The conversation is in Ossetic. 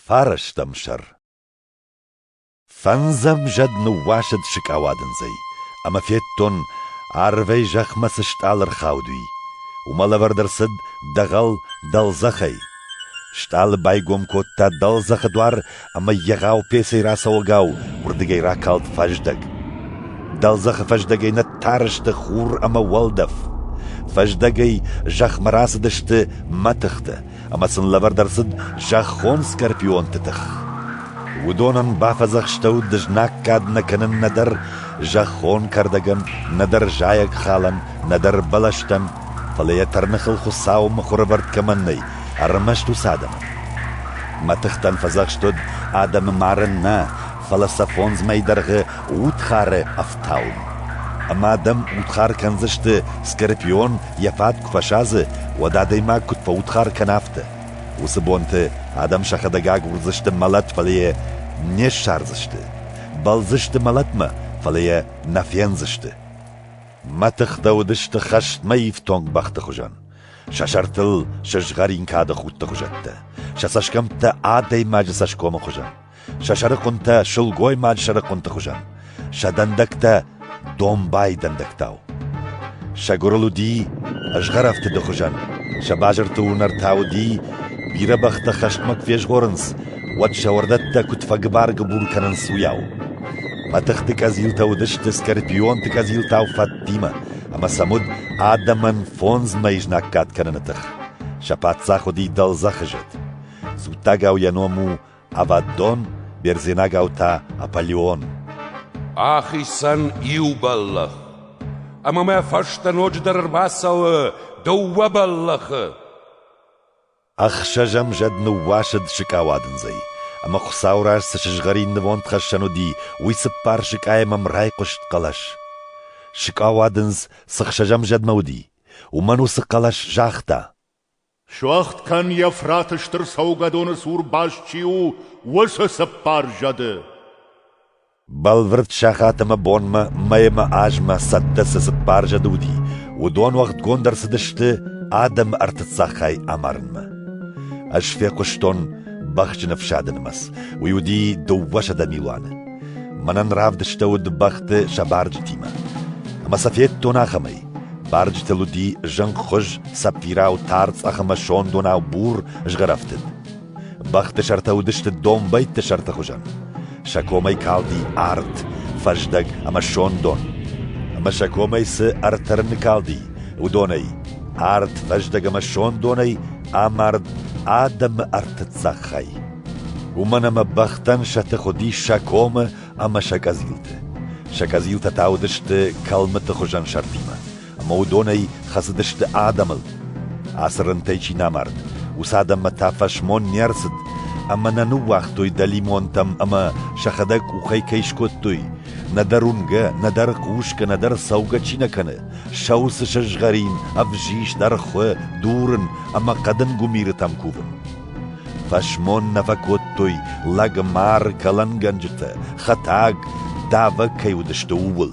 Фарӕстӕм сӕр Фӕндзӕм зӕд ныууасыд сыкъауадындзӕй, ӕмӕ федтон, арвӕй зӕхмӕ цы стъалы ӕрхауд и. Уымӕ лӕвӕрд ӕрцыд дӕгъӕл дӕлдзӕхӕй. Стъалы байгом кодта дӕлдзӕхы дуар ӕмӕ егъау пецӕй рацӕуӕгау уырдыгӕй ракалд фӕздӕг. Дӕлдзӕхы фӕздӕгӕй нӕ тар сты хур ӕмӕ уӕлдӕф. Фӕздӕгӕй зӕхмӕ рацыдысты мӕ тыхтӕ, ӕмӕ сын лӕвӕрд ӕрцыд зӕххон скорпионты тых. Уыдонӕн бафӕдзӕхстӕуыд дызнаг кад нӕ кӕнын нӕдӕр зӕххон кӕрдӕгӕн, нӕдӕр зайӕг халӕн, нӕдӕр бӕлӕстӕн, фӕлӕ йӕ тӕрныхыл Хуыцауы мыхуырӕвӕрд кӕмӕн нӕй, ӕрмӕст уыцы адӕмӕн. Мӕ тыхтӕн фӕдзӕхст уыд адӕмы марын нӕ, фӕлӕ сӕ фондз мӕй дӕргъы удхары ӕфтауын. Ӕмӕ адӕм удхар кӕндзысты, скорпион йӕ фӕтк фӕсадзы, уӕд адӕймаг куыд фӕудхар кӕна, афтӕ. Уыцы бонты адӕм сӕхӕдӕг агурдзысты мӕлӕт, фӕлӕ йӕ не ссардзысты. Бӕлдзысты мӕлӕтмӕ, фӕлӕ йӕ нӕ фендзысты. Мӕ тыхтӕ уыдысты хӕстмӕ ифтонг бӕхты хуызӕн, сӕ сӕртыл сызгъӕрин кады худты хуызӕттӕ, сӕ цӕсгӕмттӕ адӕймаджы цӕсгомы хуызӕн. сӕ сӕрыхъуынтӕ сылгоймаг сӕрыхъуынты хуызӕн, сӕ дӕндӕгтӕ домбай дӕндӕгтау. Сӕ гуырыл уыди ызгъӕрӕфтыды хуызӕн, сӕ базырты уынӕр та уыди, бирӕ бӕхтӕ хӕстмӕ куы фезгъорынц, уӕд сӕ уӕрдӕттӕ куыд фӕгыбар-гыбур кӕнынц, уыйау. Мӕтыхты къӕдзилтӕ уыдысты скорпионты къӕдзилтау фӕдтимӕ, ӕмӕ сӕм уыд адӕмӕн фондзмӕ изнӕггад кӕныны тых. Сӕ паддзах уыди дӕлдзӕхызыд. Дзуттагау йӕ ном у ӕвӕддон, бердзенагау та Аполеон. Ахицӕн иу бӕллӕх. Ӕмӕ мӕ фӕстӕ ноджыдӕр ӕрбацӕуы дыууӕ бӕллӕхы. Ӕхсӕзӕм зӕд ныууасыд сыкъауадындзӕй, ӕмӕ Хуыцауы раз цы сызгъӕрин нывондхӕссӕн уыди, уый цыппар сыкъайӕм ӕм райхъуыст хъӕлӕс. Сыкъауадындз цы хсӕзӕм зӕдмӕ уыди, уымӕн уыцы хъӕлӕс загъта. Суӕгъд кӕн Евфраты стыр цӕугӕдоны цур баст чи у, уыцы цыппар зӕды. Бӕлвырд сахат ӕмӕ бонмӕ, мӕй ӕмӕ азмӕ цӕттӕ цы цыппар зӕды уыди, уыдон уӕгъдгонд ӕрцыдысты адӕмы ӕртыццагхай амарынмӕ. Ӕз фехъуыстон бӕхджын ӕфсады нымӕц. Уый уыди дыууӕсӕдӕ милуаны. Мӕнӕн равдыстӕуыд бӕхты сӕ барджытимӕ. Ӕмӕ сӕ федтон ахӕмӕй. Барджытыл уыди зынгхуыз, цӕппирау тар цъӕх ӕмӕ сондонау бур згъӕрӕфтыд. Бӕхты сӕртӕ уыдысты домбӕйтты сӕрты хуызӕн. Сӕ комӕй калди арт, фӕздӕг ӕмӕ сондон. Ӕмӕ сӕ комӕй цы ӕртӕрыны калди, уыдонӕй арт, фӕздӕг ӕмӕ сондонӕй амард адӕмы ӕртыццаг хай. Уымӕн ӕмӕ бӕхтӕн сӕ тых уыдис сӕ комы ӕмӕ сӕ къӕдзилты. Сӕ къӕдзилтӕ та уыдысты кӕлмыты хуызӕн сӕртимӕ, ӕмӕ уыдонӕй хӕцыдысты адӕмыл. Ацы рынтӕй чи нӕ мард, уыцы адӕммӕ та фӕсмон не рцыд, ӕмӕ нӕ ныууагътой дӕлимонтӕм ӕмӕ сӕхӕдӕг къухӕй кӕй скодтой. Нӕдӕр уынгӕ, нӕдӕр хъусгӕ, нӕдӕр цӕугӕ чи нӕ кӕны, сау цы сызгъӕрин, ӕвзист, ӕрхуы, дурын ӕмӕ хъӕдын гуымирытӕм кувын. Фӕсмон нӕ фӕкодтой, лӕг, мӕр, кӕлӕнгӕнджытӕ, хӕтӕг, давӕг кӕй уыдысты, ууыл.